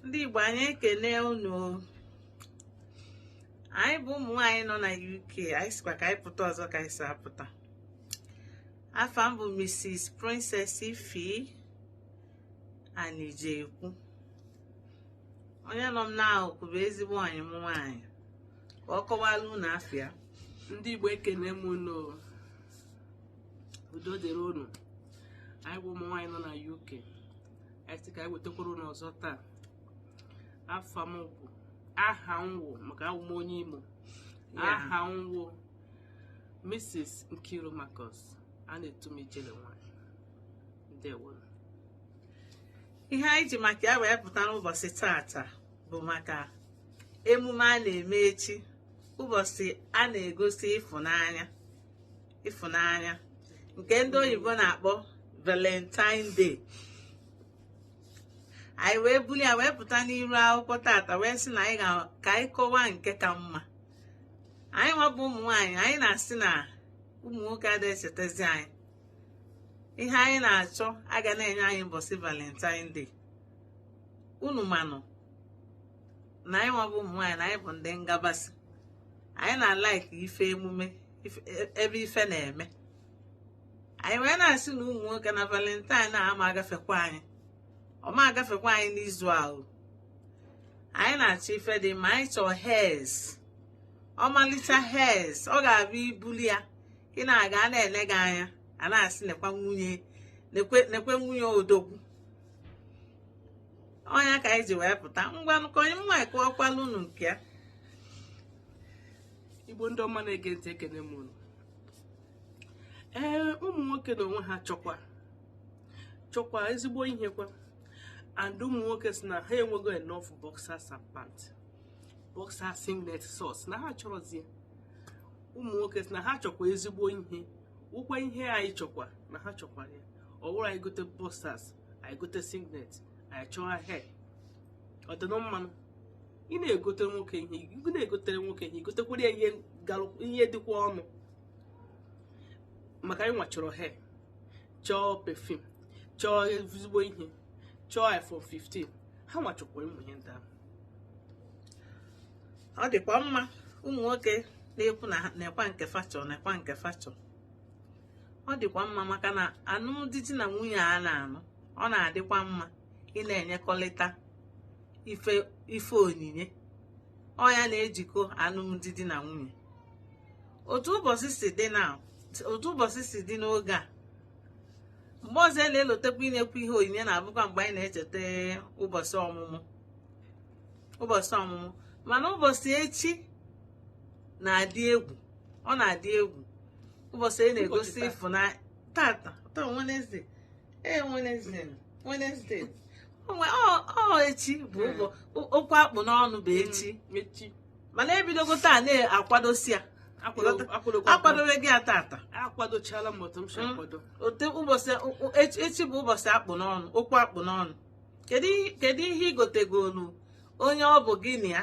ndị Igbo anyị ekene unu anyị bụ ụmụ nwaanyị nọ na UK anyị sịkwa ka anyị pụta ọzọ ka anyị si apụta afa m bụ Mrs Princess Ify Anijekwu onye nọ m n'akụkụ bụ ezigbo enyi m nwaanyị ka ọ kọwala unu afa ya ndị Igbo ekene m unu udo dịrị unu anyị bụ ụmụ nwaanyị nọ na UK anyị sị ka anyị wetakwara unu ọzọ taa afa m bụ aha m wụ maka awụ m onye Imo aha m wụ Mrs. Nkiru Marcus a na-etu m ijele nwaanyị ndewo ihe anyị ji maka ya wee pụta n'ụbọsị taata bụ maka emume a na-eme echi ụbọsị a na-egosi ịfụnanya ịfụnanya nke ndị oyibo na-akpọ valentine day anyị wee buli ya wee pụta n'iru akwụkwọ taata wee sị na ka anyị kọwaa nke ka mma anyị nwa bụ ụmụ nwaanyị anyị na-asị na ụmụ nwoke adịghị echetezi anyị ihe anyị na-achọ a ga na-enye anyị mbọsị valentine day unu manụ na anyị nwa bụ ụmụ nwaanyị na anyị bụ ndị ngabasị anyị na-alike ife emume e, ebe ife na-eme anyị wee na-asị na ụmụ nwoke na valentine na ama agafekwa anyị ọ ma agafekwa anyị n'izu ahụ anyị na-achọ ife dị mma anyị chọọ hairs ọmalịcha hairs ọ ga-abụ i buli ya ị na-aga a na-ele gị anya a na-asị nekwa nwunye odogwu ọ nya ka anyị ji wee pụta ngwanụ ka enyi m nwaanyị kọọkwalụ unu nke ya igbo ndị ọma na-ege ntị ekene m unu ee ụmụ nwoke n'onwe ha chọkwa chọkwa ezigbo ihe kwa and ụmụ nwoke sị na ha enwego enough boxers and pant boxer singlet socks na ha achọrọzi ya ụmụ nwoke sị na ha chọkwa ezigbo ihe ọ wụkwa ihe anyị chọkwa na ha chọkwara ya ọ wụrụ anyị gote boxers anyị gote singlet anyị chọọ hair ọ dị na mmanụ ị na-egotere nwoke ihe ị na-egotere nwoke ihe i gotekwara ya ihe galụ- ihe dịkwa ọnụ maka anyị nwa chọrọ hair chọọ perfume chọọ ezigbo ihe chọọ iphone 15 ha nwa chọkwa ụmụ ihe ndị ahụ ọ dịkwa mma ụmụ nwoke na-ekwu na ha- nekwa nke fa chọ nekwa nke fa chọ ọ dịkwa mma maka na anụmdi di na nwunye a na-anụ ọ na-adịkwa mma ị na-enyekọrịta ife ife onyinye ọnya na-ejikọ anụmdi di na nwunye n'otu ụbọchị si dị n'oge a mgbe ọzọ e na-elotekwa inyekwa ihe onyinye na-abụkwa mgbe anyị na-echeta ụbọchị ọmụmụ mana ụbọchị echi na-adị egwu ọ na-adị egwu ụbọchị anyị na-egosi ịfụnanya tata taa Wednesday ee Wednesday Wednesday onwe ọ echi bụ okwu akpụ n'ọnụ bụ echi mm, mana ebidogo taa na-akwadosi ya akwadobego ya tata akwadochala m otu m si mm. akwado ote ụbọchị echi bụ ụbọchị akpụ n'ọnụ okwu akpụ n'ọnụ kedu ihe ị gotegolu onye ọ bụ gị na ya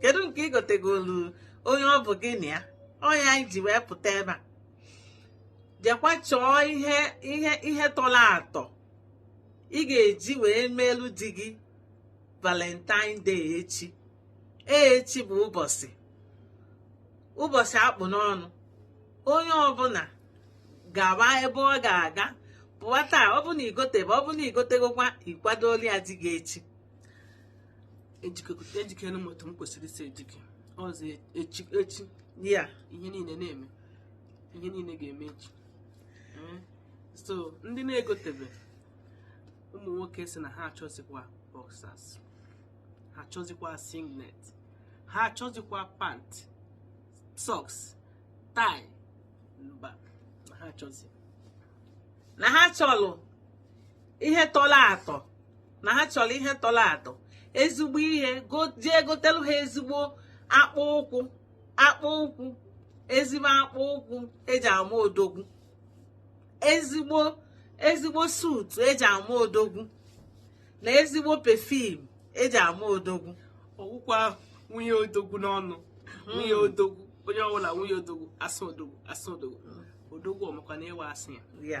kedu nke ị gotegolu onye ọ bụ gị na ya ọnya anyị ji wee pụta ebe a jekwa chọọ ihe ihe ihe tọrọ atọ ị ga-eji wee meelu di gị valentine day echi echi bụ ụbọchị ụbọchị akpụ n'ọnụ onye ọbụna gaba ebe ọ ga-aga pụwa taa ọ bụ na igotebe ọ bụ na igotegokwa ikwadolu ya di gị echi ejikere m otu m kwesịrị isi ejike ọzọ echi echi ya ihe niile na-eme ihe niile ga-eme echi Ee. so ndị na-egotebe ụmụ nwoke sị na ha achọzikwa boxers ha achọzikwa singlet ha achọzikwa pant socks tie mba na ha achọzi na ha chọlụ ihe tọrọ atọ na ha chọrọ ihe tọrọ atọ ezigbo ihe jee gotelu ha ezigbo akpụ ụkwụ akpụ ụkwụ ezigbo akpụ ụkwụ eji ama odogwu ezigbo ezigbo suit eji ama odogwu na ezigbo perfume eji ama odogwu ọ wụkwa nwunye odogwu n'ọnụ hmm. nwunye odogwu onye ọbụla nwunye odogwu asa odogwu asa odogwu hmm. odogwu ọ makwa na ị wụ asa ya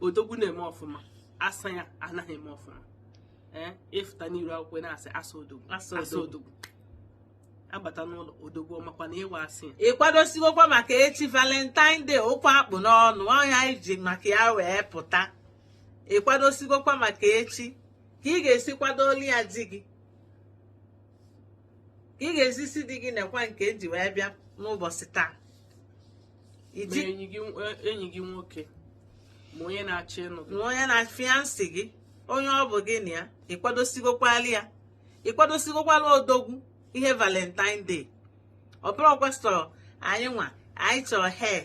odogwu na-eme ọfụma asa ya anaghị eme ọfụma ee ị fụta n'iru akwụkwọ na-asị asa odogwu Asa asa odogwu. odogwu abata n'ụlọ odogwu ọ makwa na ị wụ asa ya ị kwadosigokwa maka echi valentine day okwu akpụ n'ọnụ ọnya anyị ji maka ya wee pụta ị kwadosigokwa maka echi ka ị ga-esi kwadolu ya di gị ka ị ga-esi sị di gị nekwa nke eji wee bịa n'ụbọchị taa ma enyi gị enyi gị nwoke ma onye na-achọ ịnụ gị ma onye na-afiansị gị onye ọ bụ gị na ya ị kwadosigokwala ya ị kwadosigokwala odogwu ihe valentine day ọ bụrọkwa sọ anyị nwa anyị chọrọ hair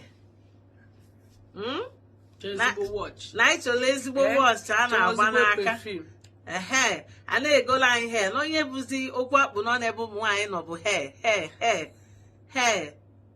hmm? na anyị chọrọ ezigbo watch a na-agba n'aka ehe a na-egola anyị hair na ọ nya bụzi okwu a kpụ n'ọnụ ebe ụmụ nwaanyị nọ bụ hair hair hair hair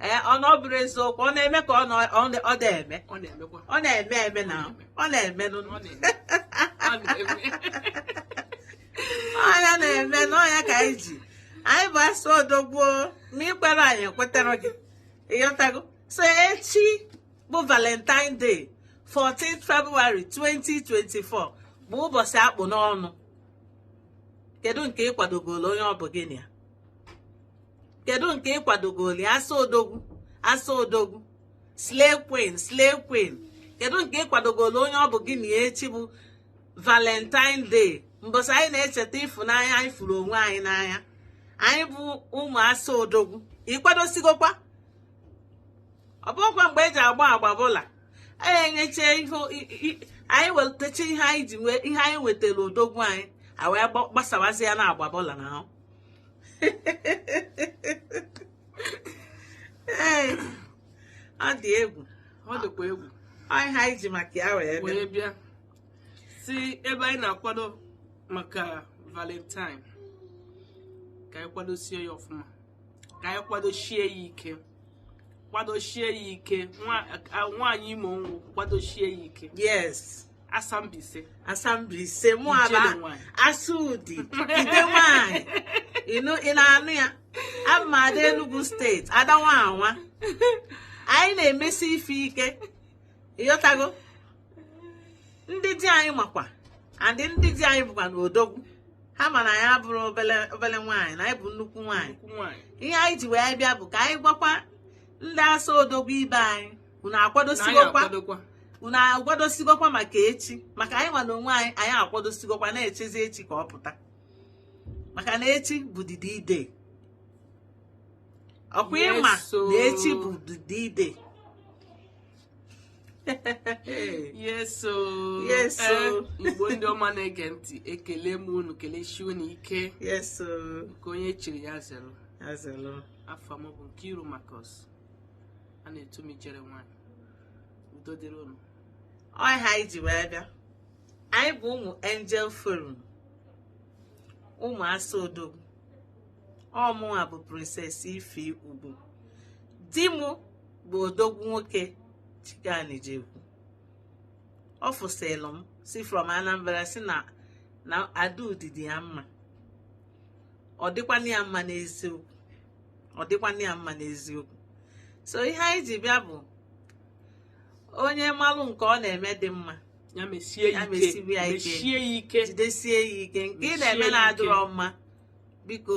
ee ọ na ọ bụrụ eziokwu ọ na-eme ka ọ na ọ na- ọ na-eme ọ na-emekwa ọ na-eme eme na ọ na-eme nụ ọ na-eme ọ na-eme ọ nya na-eme n'ọ nya ka anyị ji anyị bụ asa odogwu ma ị kwerọ anyị ekwetara gị ịghọtago so echi bụ valentine day 14 february 2024 bụ ụbọchị a kpụ n'ọnụ kedu nke ị kwadogolo onye ọ bụ gị na ya kedu nke ị kwadogoli asa odogwu asa odogwu slay queen slay queen kedu nke ị kwadogoli onye ọ bụ gị na ya echi bụ valentine day mbọsị anyị na-echeta ịfụnanya anyị fụrụ onwe anyị n'anya anyị bụ ụmụ asa odogwu ị kwadosigokwa ọ bụkwa mgbe e ji agba agba baller anyị enyecha ihe i- i- anyị wetacha ihe anyị ji wee ihe anyị wetara odogwu anyị a wee gba- gbasawazi ya na agba baller n'ahụ ee ọ dị egwu ọ dịkwa egwu anyị ihe anyị ji maka ya wee bịa wee bịa sị ebe anyị na-akwado maka valentine ka anyị kwadosie ya ọfụma ka anyị kwadosie ya ike kwadosie ya ike nwa- a- nwaanyị imo nwụ kwadosie ya ike yes asa Mbaise asa Mbaise mụ Ijele abụ nwanyị. asa Udi ide nwanyị ịnụ ị na-anụ ya abụ m ada enugu state ada Wawa anyị na-emesi ife ike ịghọtago ndị di anyị makwa a ndị ndị di anyị bụkwanụ odogwu ha ma na anyị abụrọ obele obele nwaanyị na anyị bụ nnukwu nwaanyị Nnukwu nwaanyị. ihe anyị ji wee bịa bụ ka anyị gwakwa ndị asa odogwu ibe anyị unu Na anyị akwadosigokwa akwadokwa. unu akwadosigokwa maka echi maka anyị nwa na onwe anyị anyị akwadosigokwa na-echezi echi ka ọ pụta maka na echi bụ the D-Day ọ kwa ị ma Yes, so- na echi bụ the D-Day yes o yes o eh, igbo ndị ọma na-ege ntị ekele m unu kelesie unu ike yes o nke onye chiri ya zere ya zelu afa m bụ Nkiru Marcus a na-etu m ijere nwanyị udo dịrị unu ọ ihe anyị ji wee bịa anyị bụ ụmụ angel forum ụmụ asa odogwu ọ mụnwa bụ princess ife ugwu di m bụ odogwu nwoke Chike Anijekwu official MC from anambra si na Ada Udi dị ya mma ọ dịkwana ya mma n'eziokwu so ihe anyị ji bịa bụ onye malụ nke ọ na-eme dị mma ya mesie ya ike mesiwe ya ike jidesie ya ike nke ị na-eme na-adịrọ mma biko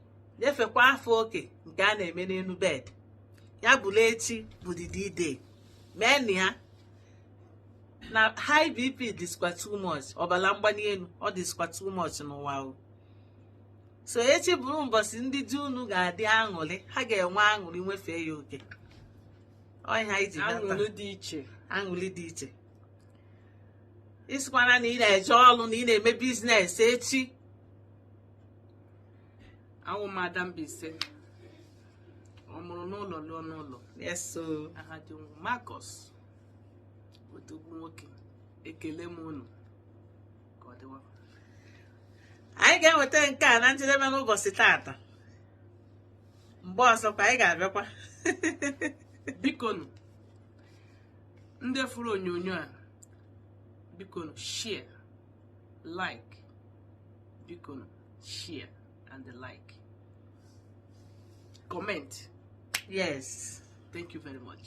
nyefekwa afọ oke nke a na-eme n'enu bed ya bụla echi bụ the d-day meenụ ya na high bp dịskwa too much ọbala mgbani enu ọ dịskwa too much n'ụwa o so echi bụrụ mbọsị ndị di unu ga-adị aṅụlị ha ga-enwe aṅụlị nwefee ya oke ọ ya anyị ji bata aṅụlị dị iche aṅụlị dị iche ị sịkwana na ị na-eje ọrụ na ị na-eme biznes echi awụ m ada Mbaise ọ mụrụ n'ụlọ lụọ n'ụlọ yes so aha di m wụ Marcus odogwu nwoke ekele m unu ka ọ dịwa anyị ga-eweta nke a na njedebe n'ụbọsị taata mgbe ọzọkwa anyị ga-abịakwa bikonu ndị fụrụ onyonyo a bikonu share like bikonu share and like comment yes thank you very much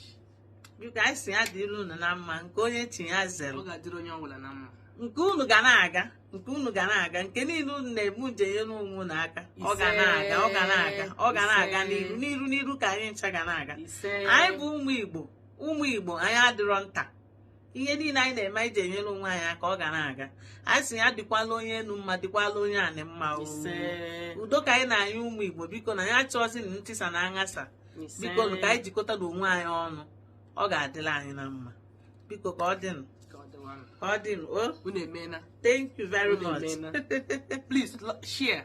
biko anyị si ya dịrị unu na mma nke onye chi ya zere ọ ga-adịrị onye ọbụla na mma nke unu ga na-aga nke unu ga na-aga nke niile unu na-eme unu ji enyere onwe unu aka ọ ga na-aga ọ ga na-aga ọ ga na-aga n'iru n'iru n'iru ka anyị ncha ga na-aga anyị bụ ụmụ Igbo ụmụ Igbo anyị adịrọ nta ihe niile anyị na-eme anyị ji enyere onwe anyị aka ọ ga na-aga anyị si ya dịkwala onye enu mma dịkwala onye anị mma oo. ise udo ka anyị na-ayọ ụmụ igbo bikonụ anyị achọzina ntịsa na aghasa ise bikonụ ka anyị jikọtanụ onwe anyị ọnụ ọ ga-adịla anyị na mma biko ka ọ dịwanụ ka ọ dịnụ o unu emeela thank you very much please lo- share